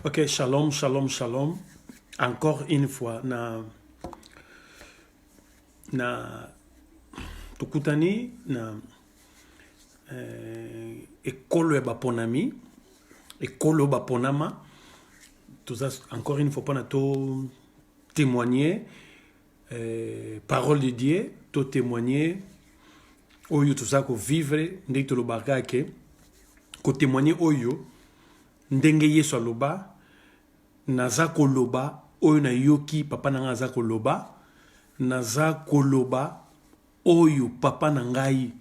Ok, shalom, shalom, shalom. Encore une fois, na, na, tokutani na euh, ekolo ya baponami, ekolo baponama, toza encore une fois mpona to témoigner euh, parole de Dieu, to témoigner oyo toza ko vivre, ndenge tolobaka ke ko témoigner oyo Ndenge Yesu aloba, Naza koloba oyo nayoki Papa na ngai aza koloba, naza koloba oyo Papa na ngai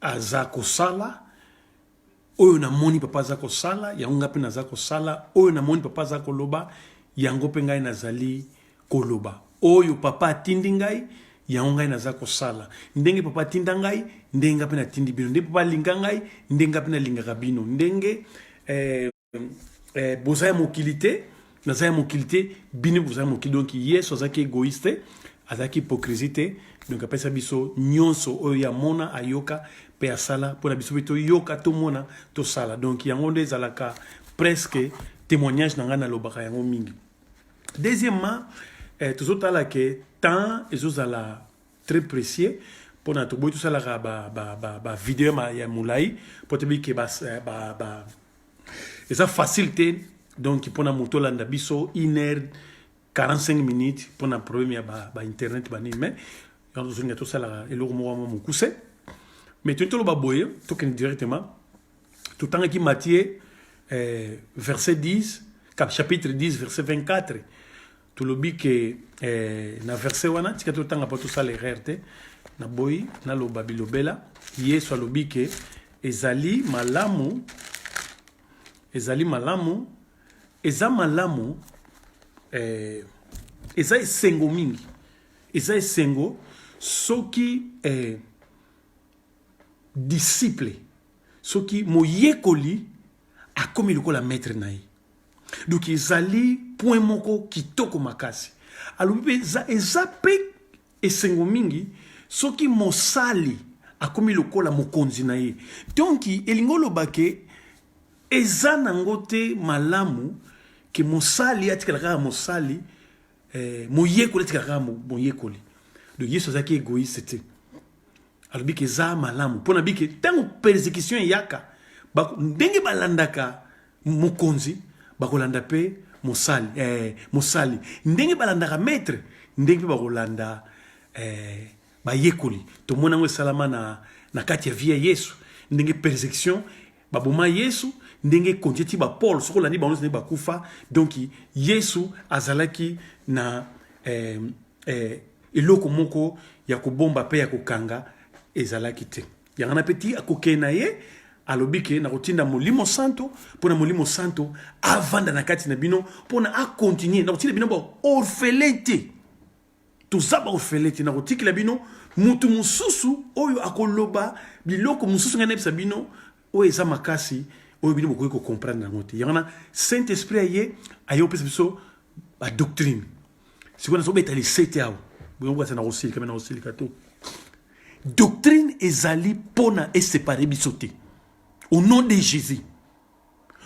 aza kosala, oyo namoni Papa aza kosala, yango ngai mpe naza kosala, oyo namoni Papa aza koloba, yango mpe ngai nazali Koloba, Oyo Papa atindi ngai, yango ngai naza kosala. Ndenge Papa atinda ngai, ndenge ngai mpe natindi bino. Ndenge Papa alinga ngai, ndenge ngai mpe nalingaka bino. Ndenge eh, eh, boza ya mokili te, naza ya mokili te, bino boza ya mokili. Donc Yesu azalaki egoïste, azalaki hypocrisie te. Donc apesa biso nyonso oyo ye amona, ayoka mpe asala mpo na biso mpe toyoka, tomona, tosala. Donc yango nde ezalaka presque témoignage na ngai nalobaka yango mingi. Deuxièmement, eh, tozotala ke temps ezozala très précieux mpona toboyi tosalaka bavideo ba, ba, ba ya molai mpo toyebi ke eh, ba, ba, eza facile te donc mpona moto olanda biso une heure 45 minutes mpona problème ya bainternet ba banini mais yango tozolinga tosalaka eloko moko mwa mokuse mais toyei toloba boye tokende directement totangaki matie eh, verset 10 chapitre 10 verset 24 tolobi ke eh, na verset wana tika totanga mpo tosala erreur te naboyi naloba bilobela yesu alobi ke ezali malamu ezali malamu eza malamu eh, eza esengo mingi eza esengo soki eh, disciple soki moyekoli akomi lokola maître na ye donc ezali point moko kitoko makasi alobi mpe eza, eza mpe esengo mingi soki mosali akomi lokola mokonzi na ye donc elingi oloba ke eza nango te malamu ke mosali atikala kaka mosali eh, moyekoli atikaka kaka moyekoli donc yesu azalaki egoïste te alobi ke eza malamu mpo nabi ke ntango persécution eyaka ndenge balandaka mokonzi bakolanda mpe mosali eh, mosali ndenge balandaka maître ndenge mpe bakolanda eh, bayekoli tomoni yango esalama na, na kati ya vie ya yesu ndenge persécution baboma yesu ndenge konti ti bapole soki olandi bango ndenge bakufa donk yesu azalaki na eh, eh, eloko moko ya kobomba mpe ya kokanga ezalaki te yango wana mpe ti akokee na ye alobi ke nakotinda molimo santo mpo na molimo santo avanda na kati na bino mpo na akontinue nakotinda bino baorfele te toza baofele te nakotikela bino motu mosusu oyo akoloba biloko mosusu ngai nayebisa bino oyo eza makasi oyo bino bokoki kocomprendre yango te yango na saint esprit aye aye opesa biso badoctrine sikoyo nazobeta lisete awa boyokokasa nakosilika me nakosilika to doctrine ezali mpona esepare biso te au nom de jésus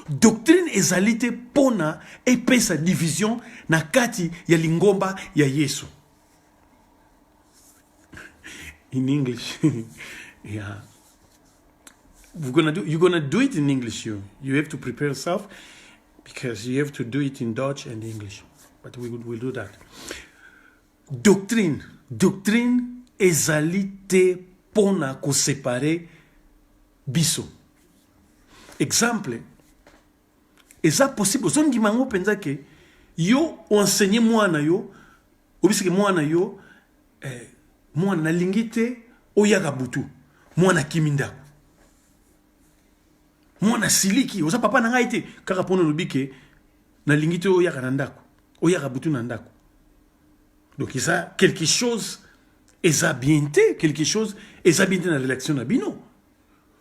Doctrine ezali te pona epesa division na kati ya lingomba ya Yesu. In English. yeah. We're gonna do, you're gonna do it in English. You, you have to prepare yourself because you have to do it in Dutch and English. But we will do that. Doctrine. Doctrine ezali te pona ko séparer biso exemple eza possible ozondima yango mpenza ke yo oenseigne mwana yo obisike mwana yo eh, mwana nalingi te oyaka butu mwana akimi ndako mwana siliki oza papa na ngai te kaka mpona olobi ke nalingi te oyaka na ndako oyaka butu na ndako donc eza quelque chose eza bien te quelque chose eza bien te na relation na bino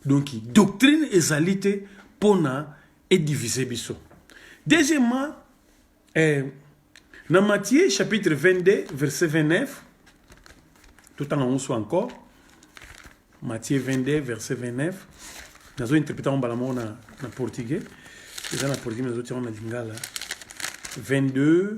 donc doctrine ezali te mpo na edivise biso deuxièmement eh, na matthieu chapitre 22 verset 29 totanga yango so encore matthieu 22 verset 29 nazo interprete yango mbala moko na, na portugais eza na portugais nazotia yango na lingala 22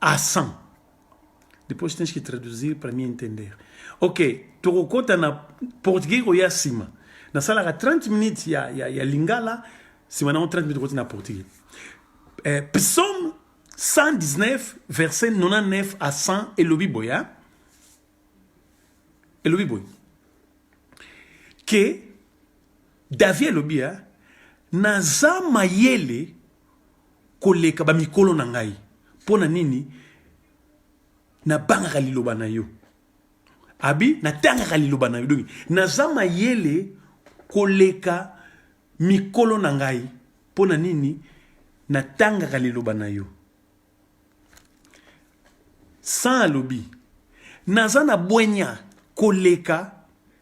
à 100 depois tens que traduzir para me entender ok tokokota na portugais koya nsima nasalaka 30 minutes ya, ya, ya lingala nsima nango 30 minutes okoti na portugais eh, psaume 119 verset 99 à 100 elobi boye hein? elobi boye ke davi elobi hein? naza mayele koleka ba mikolo na ngai pona nini na bangaka liloba na yo abi na tangaka liloba na yo donc naza mayele koleka mikolo na ngai pona nini na tangaka liloba na yo Sans alobi naza na bwenya koleka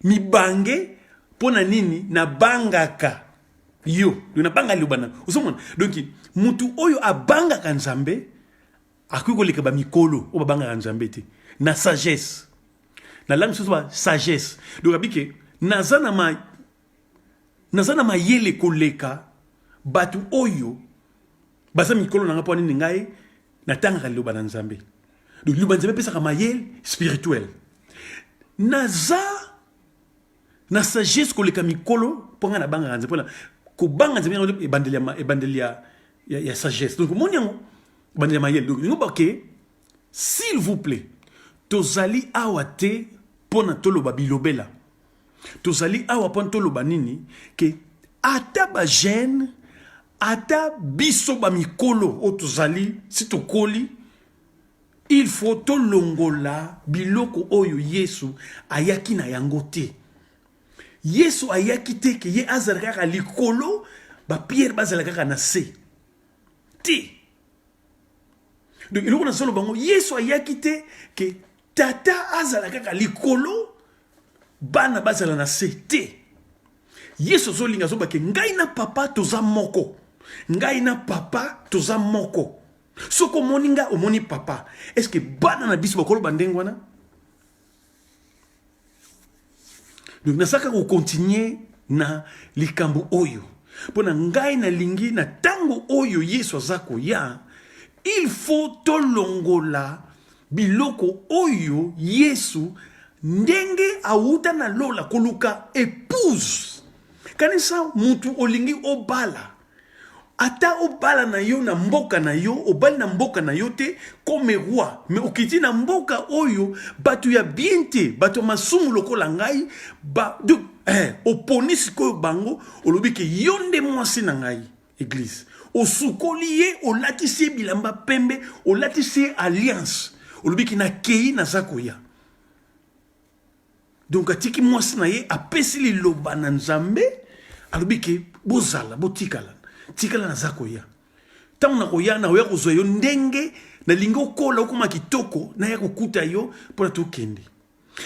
mibange mpo na nini nabangaka yo donc nabanga liloba na ozomona donc motu oyo abangaka nzambe akoki koleka bamikolo oyo babangaka nzambe te na sagesse na langue mosusu ba sagesse donc abike naza na ma naza na mayele koleka bato oyo baza mikolo na nga mpo nini ngai natangaka liloba na nzambe liloba nzambe epesaka mayele spirituel naza na sagesse koleka mikolo mpo ngai nabangaka nzambe mpona kobanga nzambe yango ebandeli ya, ebandeli ya, ya, ya sagesse donc omoni yango ebandeli ya mayele donc yango bake s'il vous plaît tozali awa te mpo na toloba bilobela Tozali awa mpo toloba nini ke ata ba jeune ata biso ba mikolo oyo tozali si tokoli il faut tolongola biloko oyo Yesu ayaki na yango te. Yesu ayaki te ke ye azala kaka likolo ba pierre bazala kaka na se te. Donc eloko nazoloba bango Yesu ayaki te ke tata azala kaka likolo bana bazala na se te yesu azolinga azobake ngai na papa toza moko ngai na papa toza moko soki omoni ngai omoni papa eske bana na biso bakoloba ndenge wana donc nazalaka kokontinue na likambo oyo mpo na ngai nalingi na ntango oyo yesu aza koya il faut tolongola biloko oyo yesu ndenge awuta na lola koluka epouse kanisa mutu olingi obala Ata obala na yo na mboka na yo, obali na mboka na yo te, comme roi, mais okiti na mboka oyo bato ya bien te, bato ya masumu lokola ngai, ba, de, eh, oponi sikoyo bango, olobi ke yo nde mwasi na ngai, eglise. Osukoli ye, olatisi ye bilamba pembe, olatisi ye alliance. Olobi ke nakei naza koya. donc atiki mwasi na ye apesi liloba na nzambe alobi ke bozala botikala tikala naza koya ntango nakoya nakoya kozwa yo ndenge nalingi okola okoma kitoko naya kokuta yo mpo na tokende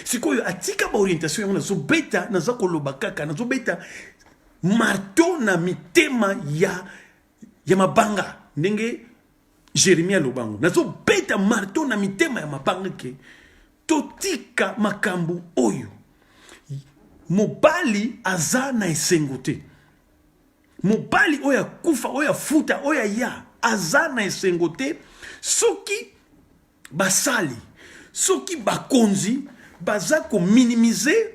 sikoyo atika baorientation yango nazobeta naza koloba kaka nazobeta marto na mitema ya ya mabanga ndenge jeremie alobango nazobeta marto na mitema ya mabanga ke totika makambo oyo mobali aza na esengo te mobali oyo akufa oyo afuta oyo aya aza na esengo te soki basali soki bakonzi baza kominimize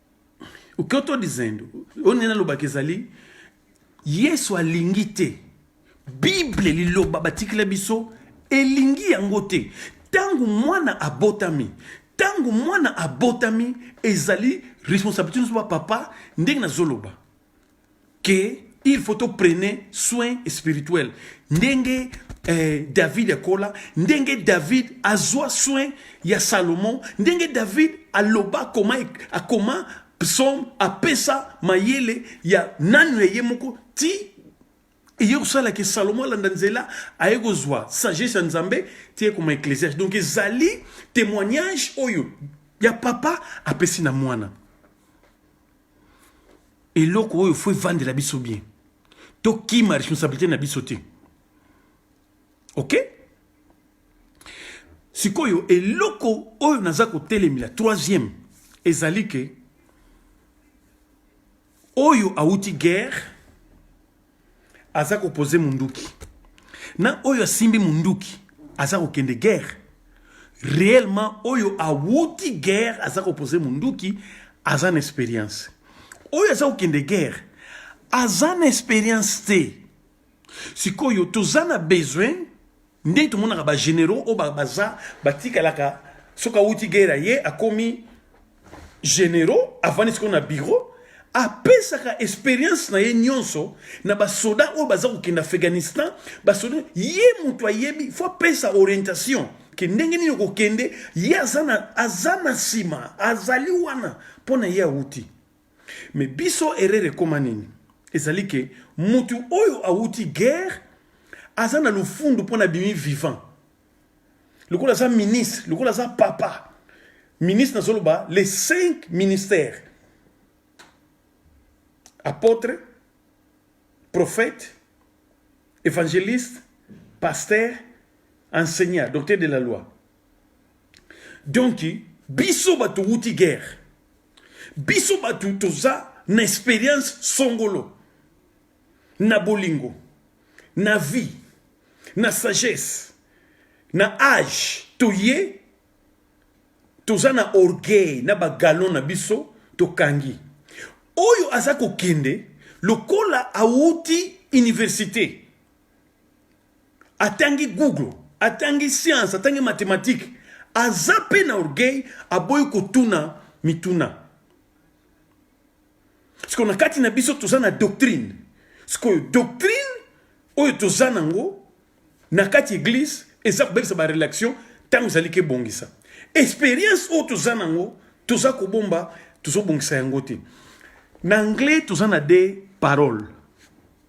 okoto dizendo oyo nde nalobaka ezali yesu alingi te bible liloba batikela biso elingi yango te ntango mwana abotami ntango mwana abotami ezali responsabilité nyonso bapapa ndenge nazoloba que il faut to prene soin spirituel ndenge eh, david akola ndenge david azwa soin ya salomon ndenge david aloba akoma akoma psaume apesa mayele ya nanu ya ye moko ti eye kosala ke salomo alanda nzela aye kozwa sagesse ya nzambe ti ekoma ecclesiage donc ezali témoignage oyo ya papa apesi na mwana eloko oyo fo evandela biso bien tokima responsabilité na biso te ok sikoyo eloko oyo naza kotelemela troisième ezali ke oyo awuti guerre aza ko poser munduki na oyo asimbi munduki aza kokende guerre réellement oyo awuti guerre aza ko poser munduki aza na expérience oyo aza kokende guerre aza na expérience te sikoyo toza na besoin nde tomonaka ba generaux oyo baza batikalaka soki awuti gera ye akomi generaux avandi sikoyo na bureau apesaka experience na ye nyonso na basoda oyo baza kokende afghanistan basoda ye moto ayebi fo apesa orientation ke ndenge nini okokende ye aza na nsima azali wana mpo na ye awuti Mais biso erreur ekoma nini? Ezali que mutu oyo awuti guerre aza na lufundu pona bimi vivant. Lokola aza ministre, lokola aza papa. Ministre nazoloba les cinq ministères. Apôtre, prophète, évangéliste, pasteur, enseignant, docteur de la loi. Donc biso bato wuti guerre biso bato toza na experience songolo na bolingo na vie na sagesse na age toye toza na orgueil na bagalon na biso tokangi oyo aza kokende lokola awuti université atangi google atangi science atangi mathématique aza mpe na orgueil aboyi kotuna mituna siko na kati na biso toza na doctrine sikoyo doctrine oyo toza nango na kati église eza kobebisa barelation ntango ezali kebongisa expérience oyo toza nango toza kobomba tozobongisa yango te na anglais toza na de parole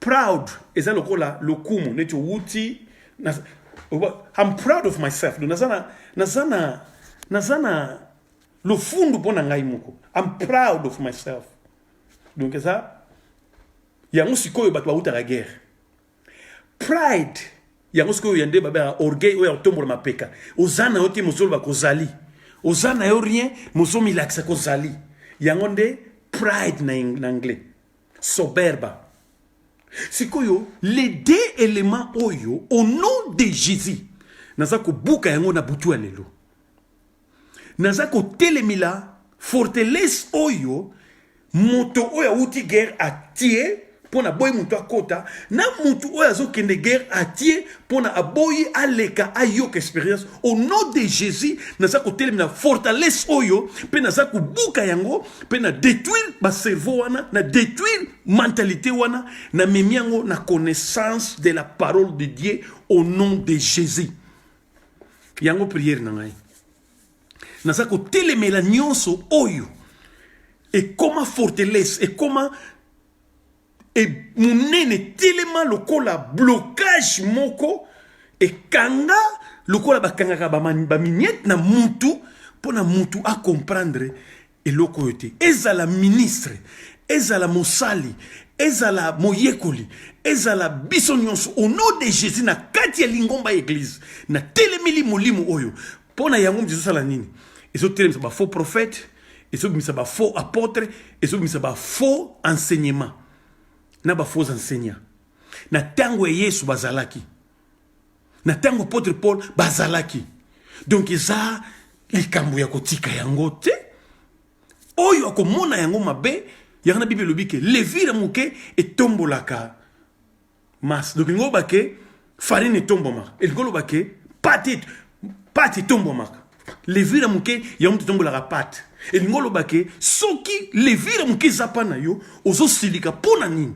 proud eza lokola lokumu neti owuti I'm proud of myself donc naza na naza na naza na lofundu mpo na ngai moko I'm proud of myself donc eza yango sikoyo bato bawutaka guerre pride yango sikoyo ya nde babengaka orgueil oyo ya kotombola mapeka oza na yo te mozoloba kozali oza na yo rien mozomilakisa kozali yango nde pride na, na anglais soberba sikoyo les deux éléments oyo au nom de jésus naza kobuka yango na butu ya lelo naza kotelemela fortelese oyo moto oyo awuti guerre atie mpo na boyi moto akota na moto oyo azokende guerre atie mpo na aboyi aleka ayoka experience au nom de jésus naza kotelemela fortalese oyo mpe naza kobuka yango mpe na detruire bacerveau wana na detruire mentalite wana na memi yango na connaissance de la parole de dieu au nom de jésus yango priere na ngai naza kotelemela nyonso oyo ekoma fortelesse ekoma e monene telema lokola blocage moko ekanga lokola bakangaka baminiete na mutu mpo na mutu acomprendre eloko oyo te ezala ministre ezala mosali ezala moyekoli ezala biso nyonso au nom de jésus na kati ya lingomba ya eglize na telemeli molimo oyo mpo na yango moto ezosala nini ezotelemisa bafaux prophète ezobimisa bafaux apôtre ezobimisa bafaux enseignement na bafaux enseignant na ntango ya yesu bazalaki na ntango apôtre paul bazalaki donk eza likambo ya kotika yango te oyo akomona yango mabe yango na bible elobi ke levire moke etombolaka masse donc elingi oloba ke farine etombwamaka elingi oloba ke pate pate etombwamaka levire moke ya moto etombolaka pate elingi oloba ke soki levire moke eza mpa na yo ozosilika mpo na nini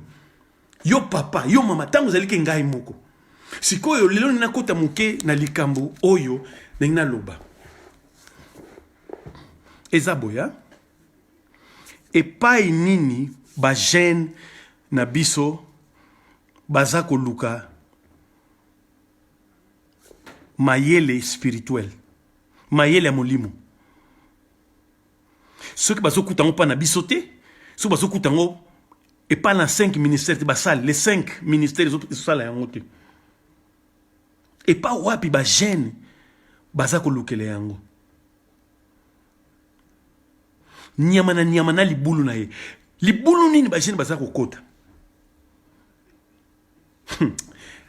yo papa yo mama ntango ozali ke ngai moko sikoyo lelo nini nakota moke na likambo oyo ndenge naloba eza boya epai nini bagene na biso baza koluka mayele spirituel mayele ya molimo soki bazokuta yango mpa na biso te soki bazokuta yango epai na 5 ministère te basali les 5 ministère ezosala yango te epai wapi bagene baza kolukela yango nyama na nyama na libulu na ye libulu nini bajene baza kokota hmm.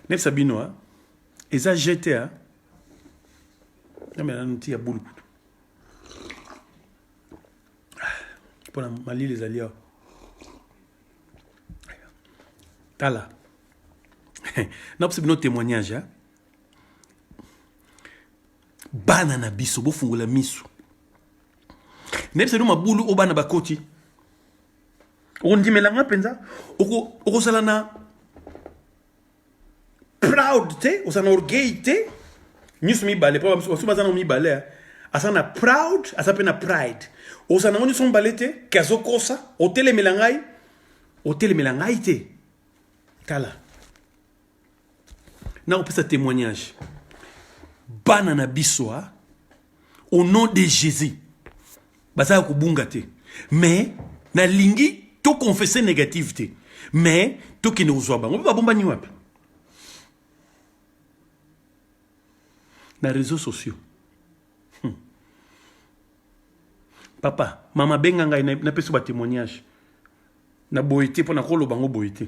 nayebisa bino a eza jete a namela noti ya bulu kutu mpona ah, malili ezali awa tala napesa bino témoignage Bana na biso bofungola misu. Nayebisa bino mabulu oyo bana bakoti. Okondimela nga mpenza okozala na proud te ozala na orgueil te nyonso mibale mpo basusu baza nango mibale eh. aza na proud aza mpe na pride ozala nango nyonso mibale te ke azokosa otelemela ngai otelemela ngai te tala nakopesa témoignage bana na biso ah, au nom de jésus baza ya kobunga te mais nalingi toconfesse négative te mais tokende kozwa bango mpe babombani wapi na réseau sociaux hmm. papa mama benga ngai napesi batémoignage na boye te mpo nakoloba yango boye te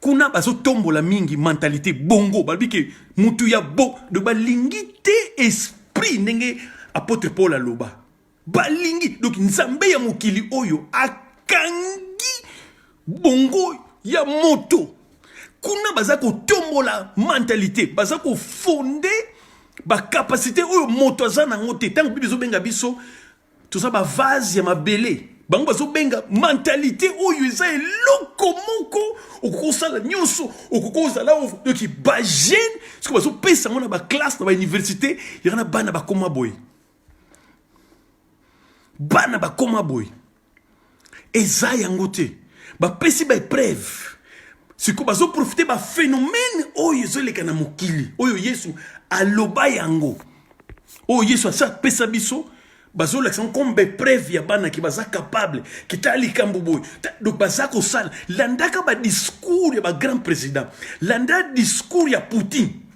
kuna bazotombola mingi mentalite bongo balobi ke mutu ya bo donc balingi te esprit ndenge apôtre paul aloba balingi donc nzambe ya mokili oyo akangi bongo ya moto kuna baza kotombola mentalite baza kofonde bacapacité oyo moto aza nango te ntango bibi ezobenga biso toza ba vase ya mabele bango bazobenga mentalite oyo eza eloko moko okoki osala nyonso okoki ozala oki bagene soki bazopesa yango na baklasse na bauniversité yaka na bana bakoma boye bana bakoma boye eza yango te bapesi ba epreuve sikoyo bazoprofite baphénomène oyo ezoleka na mokili oyo yesu aloba yango oyo yesu asi apesa biso bazolakisa yango comme baepreuve ya bana ke baza capable ke tala likambo boye donc baza kosala landaka badiscours ya bagrand président landa discours ya poutine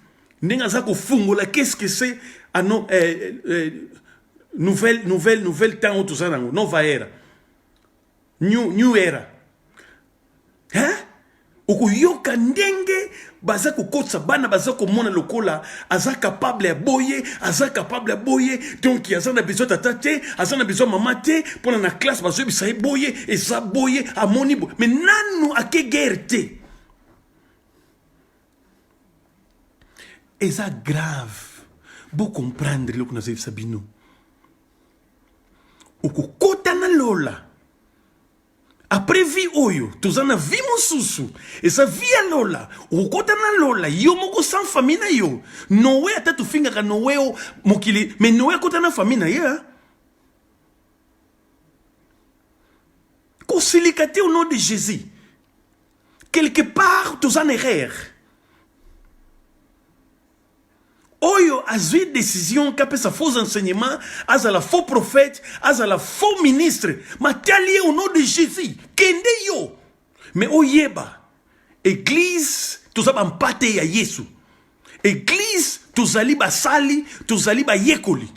ndenge aza kofungola qu'est-ce que c'est ah non eh, eh, nouvelle nouvelle nouvelle temps oyo toza nango nova era new, new era hein? okoyoka ndenge baza kokotisa bana baza komona lokola aza kapable ya boye aza kapable ya boye donk aza na besoin tata te aza na besoin mama te mpona na classe bazoyebisa ye boye eza boye amoni boye me nanu ake guerre te eza grave bo comprendre eloko nazalisa bino okokota na lola après vie oyo toza na vie mosusu eza vie ya lola okokota na lola yo moko sans famille na yo noe ata tofingaka noe o mokili mais noe akota na famille na ye hein? kosilika te au nom de jésus quelque part toza na erreur oyo azwi décision ke apesa faux enseignement azala faux prophète azala faux ministre matali ye au nom de jésus kende yo mais oyeba eglise toza bampate ya yesu eglise tozali basali tozali bayekoli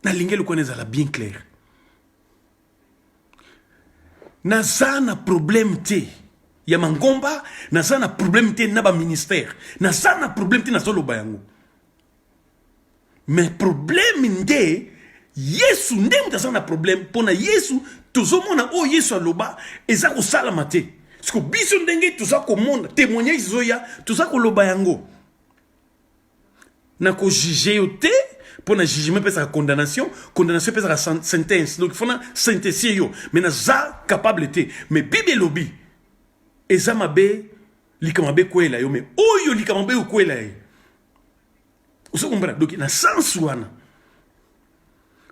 nalingi eloko wana ezala bien clair naza na problème te ya mangomba naza na problème te na baministère naza na problème te nazoloba yango mais problème nde yesu nde moto aza na problème mpo na yesu tozomona oyo yesu aloba eza kosalama te siko biso ndenge toza komona témoignage ezoya toza koloba yango na ko juger yo te mpo na jugement epesaka condamnation condamnation epesaka sentence donc fona sentesie yo mais naza capable te mais bible elobi eza mabe likambo mabe ekwela yo mais oyo likambo mabe okwela ye ozo kombana donc na sens wana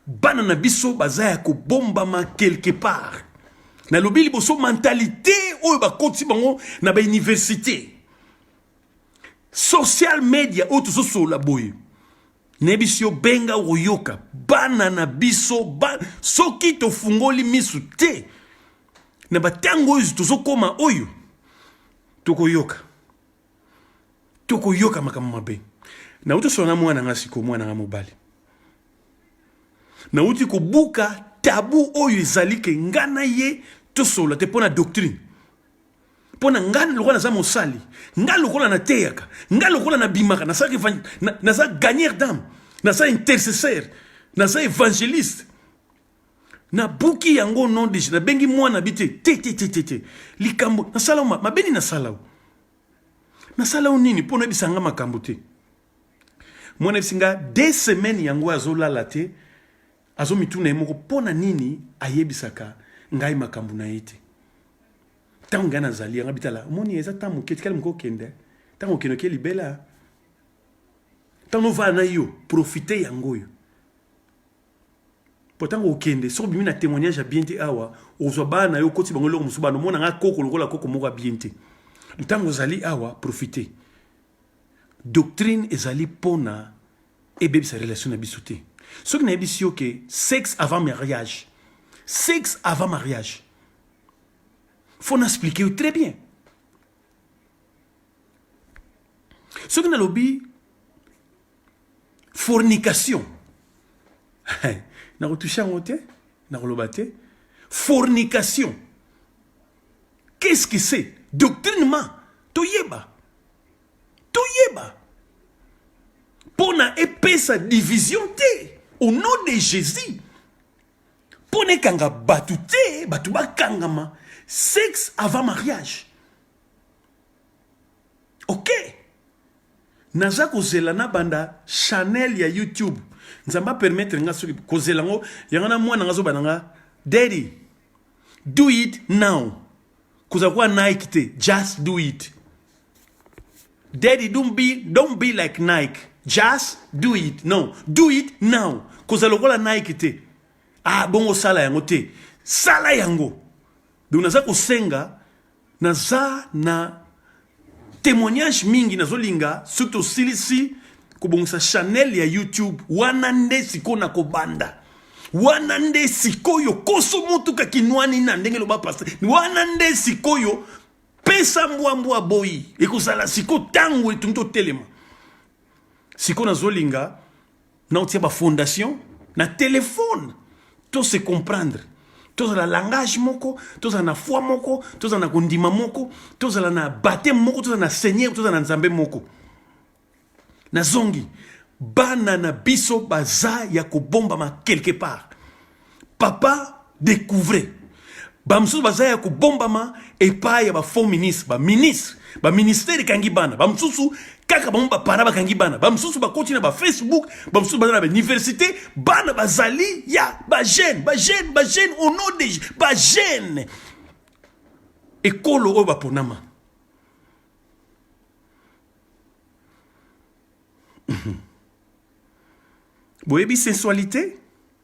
bana na biso baza ya kobombama quelque part nalobi liboso mentalite oyo bakoti bango na bauniversité social media oyo tozosolola boye nayebisi yo benga okoyoka bana na biso ba... soki tofungoli misu te na bantango oyo tozokoma oyo tokoyoka tokoyoka makambo mabe nauti osolola na mwana nga sikoyo mwana nga mobali nauti kobuka tabu oyo ezali ke nga na ye tosolola te mpo na doctrine mpo na ngai lokola naza mosali ngai lokola nateyaka ngai lokola nabimaka naza na, na gagner dame naza intercesseur naza évangéliste nabuki yango non deje nabengi mwana bi te te te te te te likambo nasala yo mabe nini nasala yo nasala yo nini mpo noyebisa nga makambo te mwana yebisi nga de semaine yango azolala te Azomituna ye moko mpo na nini ayebisaka ngai makambo na ye te ntango ngai nazali yanga bitala omoni eza ntango moke tikali moke okende ntango okende oke libela ntango ovala na yo profite yango oyo mpo ntango okende soki obimi na témoignage ya bien te awa ozwa bana na yo okoti bango eloko mosusu bana omona ngai koko lokola koko moko ya bien te ntango ozali awa profite doctrine ezali pona ebebisa relation na biso te soki nayebisi yo ke sexe avant mariage sexe avant mariage faut na explique yo très bien soki nalobi fornication nakotushe yango te nakoloba te fornication Qu'est-ce que c'est Doctrinement Toyeba Toyeba Mpo na epesa division te Au nom de Jésus Mpo na ekanga bato te Bato bakangama Sexe avant mariage Ok naza kozela na banda chanel ya youtube nzambe apermettre nga soki kozela yango yango na mwana nga zoba na nga daddy do it now kozala kuwa nike te just do it daddy don't be, don't be like nike just do it no do it now kozala lokola nike te ah bongo sala yango te sala yango donc naza kosenga Naza na temoignage mingi nazolinga soki tosilisi kobongisa chanel ya YouTube wana nde sikoyo na kobanda wana nde sikoyo koso motuka kinwani na ndenge loba pasta wana nde sikoyo pesa mbwa mbwa boyi ekozala sikoyo ntango etungi totelema sikoyo nazolinga na otia ba fondation na telefone to se comprendre tozala langage moko tozala na foi moko tozala na kondima moko tozala na bateme moko tozala na seigneur tozala na nzambe moko nazongi bana na biso baza ya kobombama quelque part papa découvrez bamosusu baza ya kobombama epai ya bafaux ministre baministre baministère ekangi bana bamosusu kaka bango bapara bakangi bana bamosusu bakoti na bafacebook bamosusu baza na bauniversité bana bazali ya bajeune bajeune bajeune au nom de bajeune ekolo oyo baponama boyebi sensualité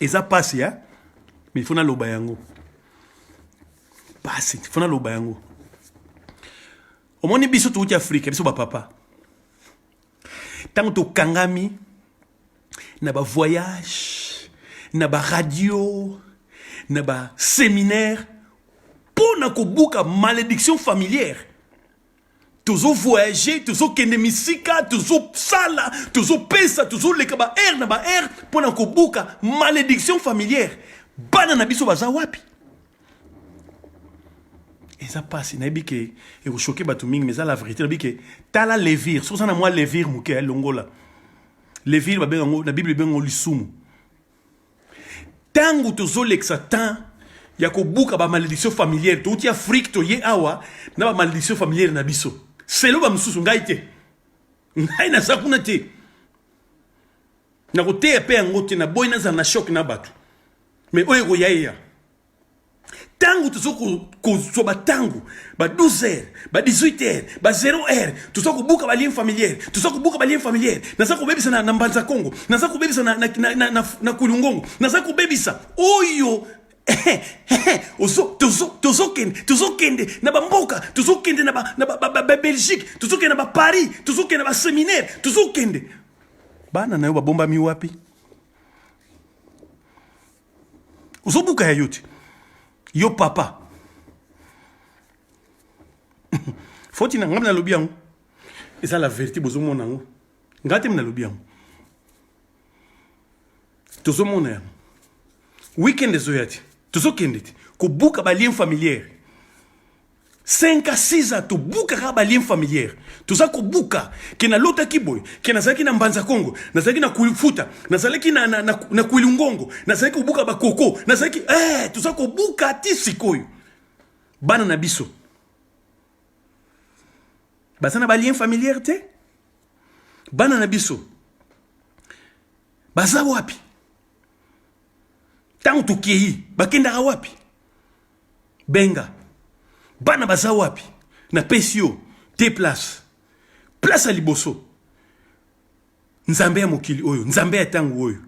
eza pasi ya mais fo naloba yango pasi fo naloba yango omoni biso touti afrika biso bapapa ntango tokangami na bavoyage na baradio na baseminaire mpo na kobuka malédiction familière tozo voyager tozokende misika tozosala tozopesa tozoleka baheure na baheure mpo na kobuka malédiction familière bana na biso baza wapi eza mpasi nayebi ke ekoshoke bato mingi mais eza la vérité nayebi ke tala levire soki oza na mwa levire moke ya longola levire babenga yango na bible ebenga yango lisumu ntango tozolekisa temps ya kobuka bamalediction familiere touti afrike toye awa na bamalediction familiere na biso selo bamosusu ngai te ngai naza kuna te nakoteya mpe yango te naboyi nazala na shok na bato me oyo ekoya eya ntango toza kozwa bantango ba 12 heures ba 18 heures ba 0 heure toza kobuka balien familiere toza kobuka balien familiere naza kobebisa na, na mbanza kongo naza kobebisa na, na, na, na, na, na kulungongo naza kobebisa oyo tozokende tozokende na bamboka tozokende na babelgique tozokende na baparis tozokende na baseminaire tozokende bana na yo babombami wapi ozobuka ya yo ti yo papa foti na ngai mi nalobi yango eza la verité bozomona yango ngai te mi nalobi yango tozomona yango weekend ezoya te tozokende te kobuka balien familiere 5 à 6 ans tobukaka balien familière toza kobuka ke nalotaki boye ke nazalaki na mbanza kongo nazalaki na kuifuta nazalaki na, na, na, na kuilungongo nazalaki kobuka bakoko nazalaki eh, toza kobuka ti sikoyo bana na biso baza na balien familière te bana na biso baza wapi ntango tokei bakendaka wapi benga bana baza wapi na pesi yo te place place ya liboso nzambe ya mokili oyo nzambe ya ntango oyo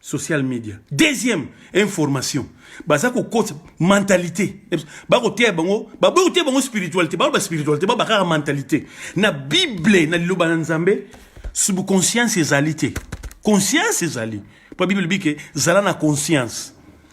social media deuxième information baza kokota mentalité bakoteya bango baboyi koteya bango spiritualité bango baspiritualité ba bakaka mentalité na bible na liloba na nzambe subconscience ezali te conscience ezali mpo bible elobi ke zala na conscience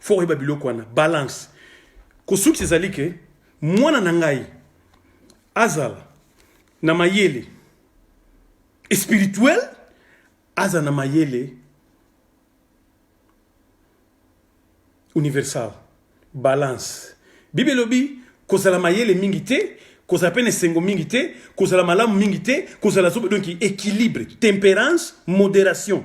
fo oyeba biloko wana balance kosukisa ezali ke mwana na ngai azala na mayele spirituel azala na mayele universal balance bibi elobi kozala mayele mingi te kozala mpe na esengo mingi te kozala malamu mingi te kozala zoba donc équilibre temperance modération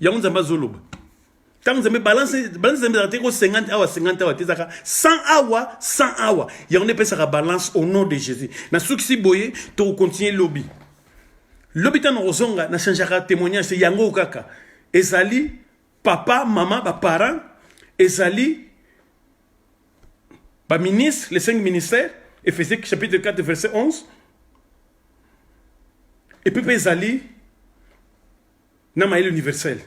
yango nzambe azoloba ntango nzambe balance balance nzambe ezalaka te ko 50 awa 50 awa te ezalaka 100 awa 100 awa yango nde epesaka balance au nom de jésus nasukisi boye tokokontinue lobi lobi ntango nakozonga nachangeaka témoignage te yango kaka ezali papa mama baparent ezali baministre les cinq ministères ephésique chapitre 4 verset 11 epe mpe ezali na mayele universel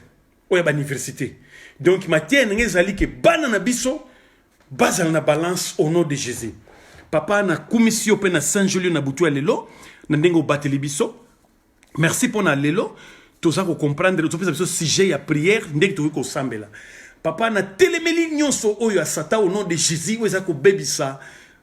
oyo ya bauniversité donc matière na ngai ezali ke bana na biso bazala na balance au nom de jésus papa nakumisi yo mpe nasanjoli yo na butu ya lelo na ndenge obateli biso merci mpo na lelo toza kocomprendre topesa biso sujet ya prière ndenge tokoki kosambela papa natelemeli nyonso oyo ya satan au nom de jésus oyo eza kobebisa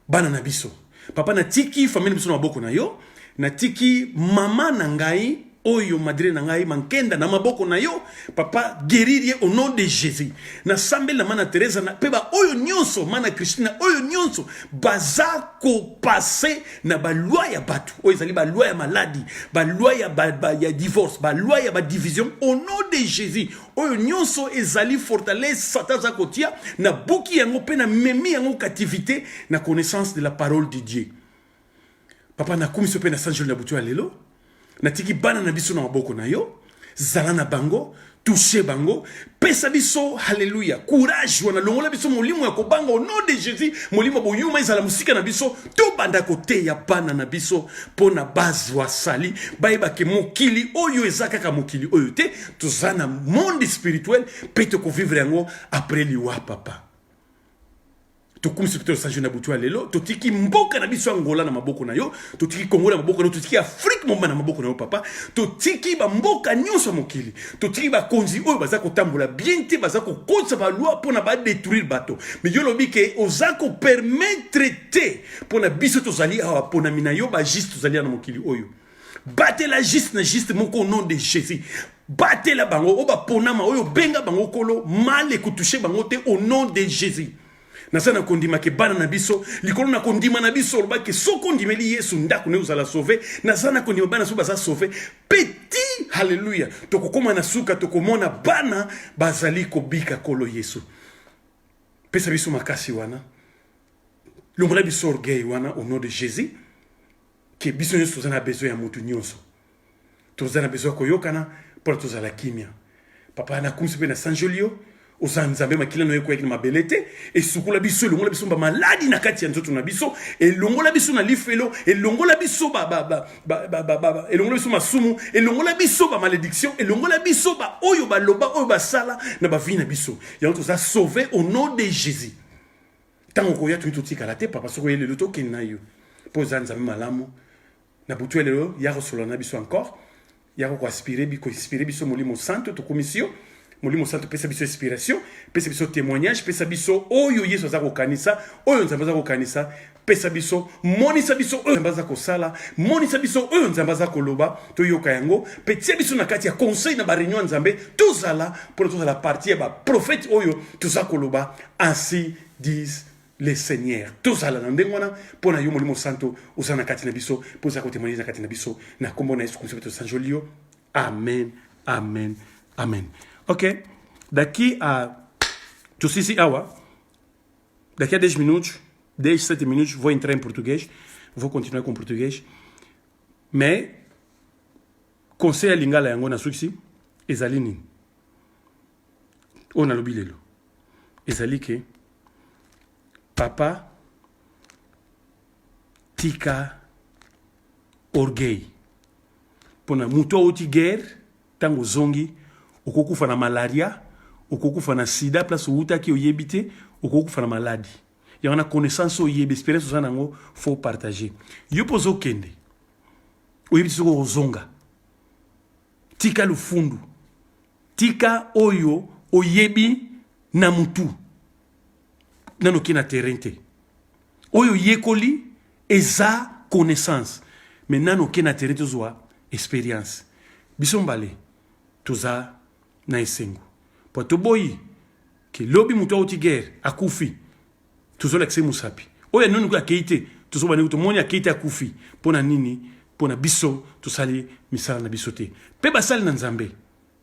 bana na biso papa natiki famille na biso na maboko na yo natiki mama na ngai oyo madre na ngai mankenda na maboko na yo papa guerir ye au nom de jésus nasambeli na mana teresa na mpe baoyo nyonso mana christina oyo nyonso baza kopase na balwa ya bato oyo ezali balwa ya maladi balwa ya, ba, ba, ya divorce balwa ya badivision au nom de jésus oyo nyonso ezali fortalese sata aza kotia nabuki yango mpe namemi yango captivité na connaissance de la parole de dieu papa nakumisi yo mpe na sanjoli na butu ya lelo natiki bana na biso na maboko na yo zala na bango touche bango pesa biso haleluya courage wana longola biso molimo ya kobanga au nom de jésus molimo boyuma ezala mosika na biso tobanda koteya bana na biso mpo na bazwa sali bayebake mokili oyo eza kaka mokili oyo te toza na monde spirituel mpe tokovivre yango après liwa papa tokumisi mpe tosajo na butu ya lelo totiki mboka na biso ya ngola na maboko na yo totiki kongo na maboko na yo totiki afrike mobimba na maboko na yo papa totiki bamboka nyonso ya mokili totiki bakonzi oyo baza kotambola bien te baza kokotisa baloi mpo na badetruire bato me yo olobi ke oza kopermetre te mpo na biso tozali awa ponami na yo bajuste tozali ya na mokili oyo batela juste na juste moko au nom de jésus batela bango oyo baponama oyo obenga bango kolo mal ekotouche bango te au nom de jésus naza na kondima ke bana na biso likolo na kondima na biso oloba ke soki ondimeli yesu ndako naye ozala sauve naza na kondima bana so baza sauve peti halleluya tokokoma na suka tokomona bana bazali kobika kolo yesu pesa biso makasi wana longola biso orgueil wana au nom de jésus ke biso nyonso toza na besoin ya moto nyonso toza na besoin ya koyokana mpona tozala kimia papa nakumisi mpe nasanjoli yo oza nzambe makila na yo ekweyaki na mabele te esukola biso elongola biso bamaladi na kati ya nzoto na biso elongola biso na lifelo elongola biso elongola biso masumu elongola biso bamalediction elongola biso baoyo baloba oyo basala na bavi na biso yango toza sauve au nom de jésus ntango okoya tuni totikala te papa soki oye lelo tokende na yo mpo oza nzambe malamu na butu ya lelo ya kosolola na biso encore ya kokoaspire koinspire biso molimo santo tokumisi yo molimo santo pesa biso inspiration pesa biso témoignage pesa biso oyo yesu aza kokanisa oyo nzambe aza kokanisa pesa biso monisa biso oyo nzambe aza kosala monisa biso oyo nzambe aza koloba toyoka yango mpe tia biso na kati ya conseil na bareunion ya nzambe tozala mpona tozala parti ya baprofete oyo toza koloba Ainsi disent le Seigneur. Tozala na ndenge wana mpo na yo Molimo Santo oza na kati na biso mpo oza kotemoigne na kati na biso na nkombo na Yesu Kristo mpe tosanjoli yo. Amen, amen, amen. Ok, daki a tosisi awa daki a 10 minutes 10 7 minutes vou entrar em português vou continuar com português mais conseil ya lingala yango nasukisi ezali nini oyo nalobi lelo ezali ke papa tika orgueil mpo na moto awuti guerre ntango ozongi okokufa na malaria okokufa na sida place owutaki oyebi te okokufa na maladi yango na connaissance oyebi experience oza nango fo partage yo mpo ozokende oyebi te soki okozonga tika lufundu Tika oyo oyebi na mutu. Nano ke na terrain te. Oyo yekoli eza connaissance. Mais nano ke na terrain tozwa experience. Biso mbale toza na esengo. Po toboyi ke lobi mutu auti guerre akufi. tozolakisa ye mosapi oyo ya nunu kutu akei te tozobanda kutu moni akei te akufi mpo na nini mpo na biso tosali misala na biso te mpe basali na nzambe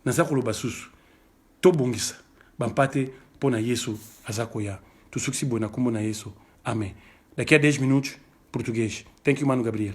naza koloba susu tobongisa bampate mpo na yesu aza koya tosukisi boye na nkombo na yesu amen daqui a 10 minutos português thank you mano gabriel